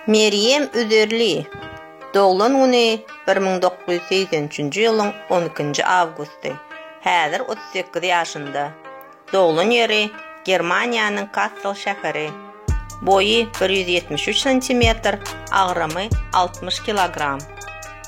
Merýem Üzerli doglan güni bir müň dokuz ýüz segsen üçünji ýylyň on ikinji awgusty. Häzir otuz sekiz ýaşynda. Doglan ýeri Germaniýanyň Kassel şäheri. Boýy bir ýüz ýetmiş üç santimetr, agramy altmyş kilogram.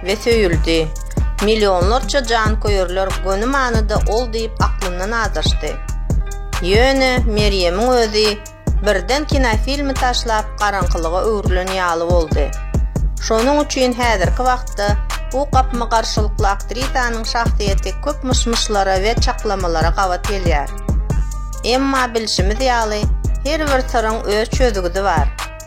we söýüldi. Millionlarça janköýerler göni manyda ol diýip aklyndan azaşdy. Ýöne Merýemiň özi birden kinofilmi taşlap garaňkylyga öwrülen ýaly boldy. Şonuň üçin häzirki wagtda bu gapma-garşylykly aktrisanyň şahsyýeti köp myş-myşlara we çaklamalara gabat gelýär. Emma bilşimiz ýaly her bir syryň öz çözgüdi bar.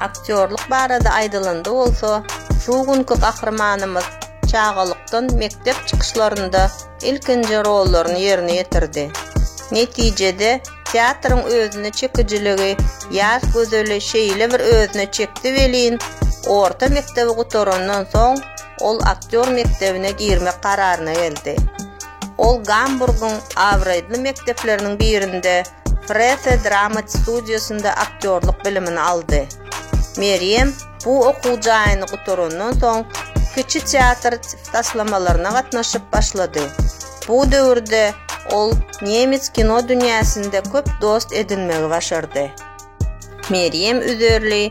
Aktýorlyk barada aýdylanda bolsa, şu günki gahrymanymyz çagalykdan mekdep çykyşlarynda ilkinji rollaryny ýerine ýetirdi. Netijede, teatryň özüne çekijiligi ýaş gözeli şeýle bir özüne çekdi welin, orta mekdebi gutarandan soň, ol aktýor mekdebine girmek kararyna geldi. Ol Gamburgyň abraýdly mekdepleriniň birinde Prese Dramat studiýasynda aktýorlyk bilimini aldy. Merýem bu okuw jaýyny gutarandan soň, kiçi teatr taslamalaryna gatnaşyp başlady. Bu döwürde ol nemes kino dünýäsinde köp dost edinmegi başardy. Merýem Üzerli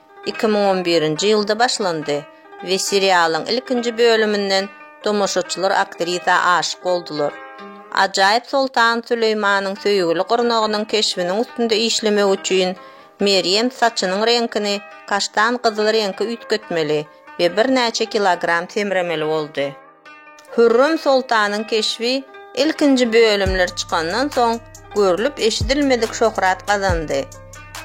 Iki müň on birinji ýylda başlandy we serialyň ilkinji bölüminden tomaşaçylar aktrisa aşyk boldular. Ajaýyp Soltan Süleýmanyň söýgüli gyrnagynyň keşbiniň üstünde işlemek üçin Merýem saçynyň reňkini kaştan gyzyl reňke üýtgetmeli we birnäçe kilogram semremeli boldy. Hürrem soltanyň keşbi ilkinji bölümler çykandan soň görlüp-eşidilmedik şöhrat gazandy.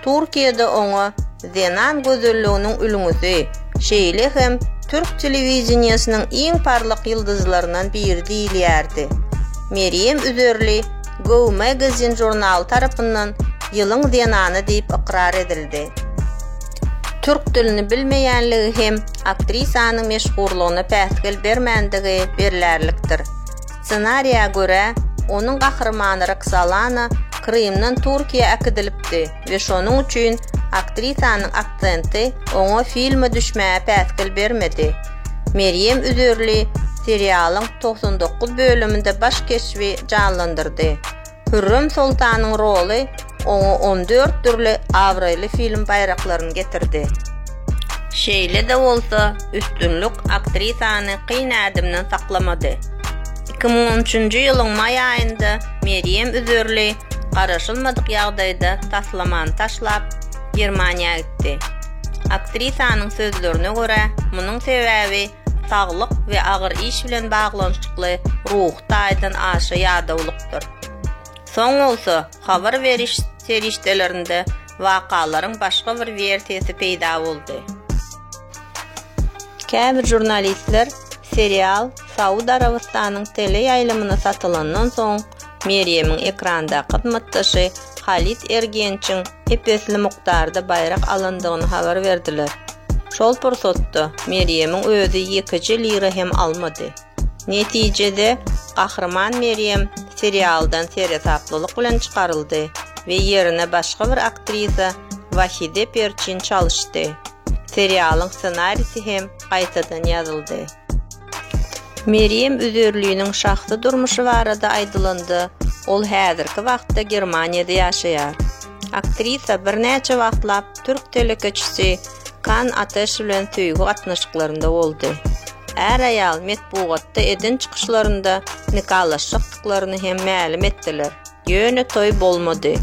Türkiýede oňa Zenan gözelliginiň ülňüsi, şeýle hem türk telewideniýesiniň iň parlak ýyldyzlaryndan biri diýilýärdi. Merýem Üzerli Go Magazine žurnaly tarapyndan Ýylyň zenany diýip ykrar edildi. Türk dilini bilmeýänligi hem aktrisanyň meşhurlygyna päsgel bermändigi berlärlikdir. Ssenariýa görä, onuň gahrymany Roksolana Krymdan Türkiýä äkidilipdi we şonuň üçin aktrisanyň aksenti oňa filme düşmäge päsgel bermedi. Merýem Üzerli serialyň togsan dokuz bölüminde baş keşbi janlandyrdy. Hürrem Soltanyň roly oňa on dört dürli abraýly film baýraklaryny getirdi. Şeýle-de bolsa, üstünlik aktrisany kyn ädimden saklamady. Iki müň on üçünji ýylyň maý aýynda Merýem Üzerli garaşylmadyk ýagdaýda taslamany taşlap, Germaniýa gitdi. Aktrisanyň sözlerine görä, munuň sebäbi saglyk we agyr iş bilen baglanyşykly ruhy taýdan aşa ýadawlyk. bolupdyr. Soň bolsa habar beriş serişdelerinde wakalaryň başga bir wersiýasy peýda boldy. Käbir žurnalistler serial Saud Arabystanyň teleýaýlymyna satylandan soň Merýemiň ekrandaky hyzmatdaşy Halit Ergençiň ep-esli mukdarda baýrak alandygyny habar berdiler. Şol pursatda Merýemiň özi ýekeje lira hem almady. Netijede, Gahryman Merýem serialdan seresaplylyk bilen çykaryldy we ýerine başga bir aktrisa Wahide Perçin çalyşdy. Serialyň ssenarisi hem gaýtadan ýazyldy. Merýem Üzerliniň şahsy durmuşy barada aýdylanda, ol häzirki wagtda Germaniýada ýaşaýar. Aktrisa birnäçe wagtlap türk telekeçisi Kan Ateş bilen söýgi gatnaşyklarynda boldy. Är-aýal metbugatda eden çykyşlarynda nikalaşjakdyklaryny hem mälim etdiler, ýöne toý bolmady.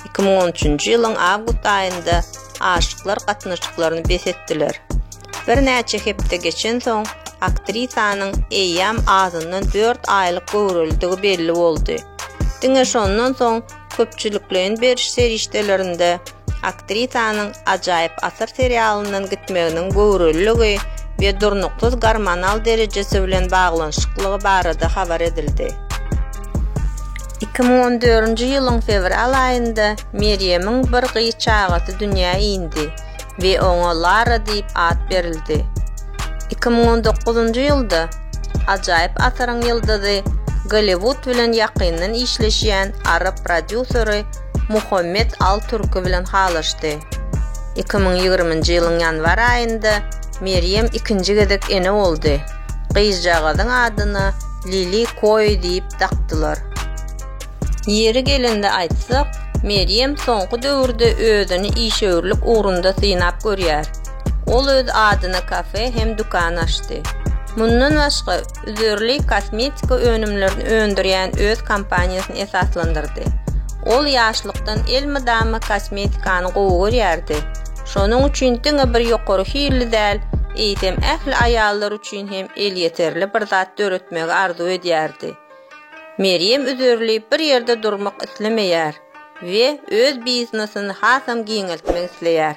Iki müň on üçünji ýylyň awgust aýynda aşyklar gatnaşyklaryny bes etdiler. Birnäçe hepde geçensoň, aktrisanyň eýýäm azyndan dört aýlyk göwrelidigi belli boldy. Diňe şondan soň köpçülikleýin beriş serişdelerinde aktrisanyň Ajaýyp asyr serialyndan gitmeginiň göwreliligi we durnuksyz gormonal derejesi bilen baglanyşyklygy barada habar edildi. Iki müň on dördünji ýylyň fewral aýynda Merýemiň bir gyz çagasy dünýä indi. we oňa Lara diýip at berildi. Iki müň on dokuzynjy ýylda ajaýyp asyryň ýyldyzy, Golliwud bilen ýakyndan işleşýän arap prodýuseri Muhammet Al Turki bilen halaşdy. Iki müň ýigriminji ýylyň ýanwar aýynda Merýem ikinji gezek ene boldy. Gyzjagazyň adyna Lili Koi diýip dakdylar. Ýeri gelende aýtsak, Merýem soňky döwürde özüni işewürlik ugrunda synap görýär. Ol öz adyna kafe hem dükan açdy. Mundan başga, üzerli kosmetika önümlerini öndürýän öz kompaniýasyny esaslandyrdy. Ol ýaşlykdan elmydama kosmetikany gowy görýärdi. Şonuň üçin diňe bir ýokary hilli däl, eýsem ähli aýallar üçin hem elýeterli bir zat döretmegi arzuw edýärdi. Merýem üzerlip bir ýerde durmak islemeýär we öz biznesini hasam giňeltmek isleýär.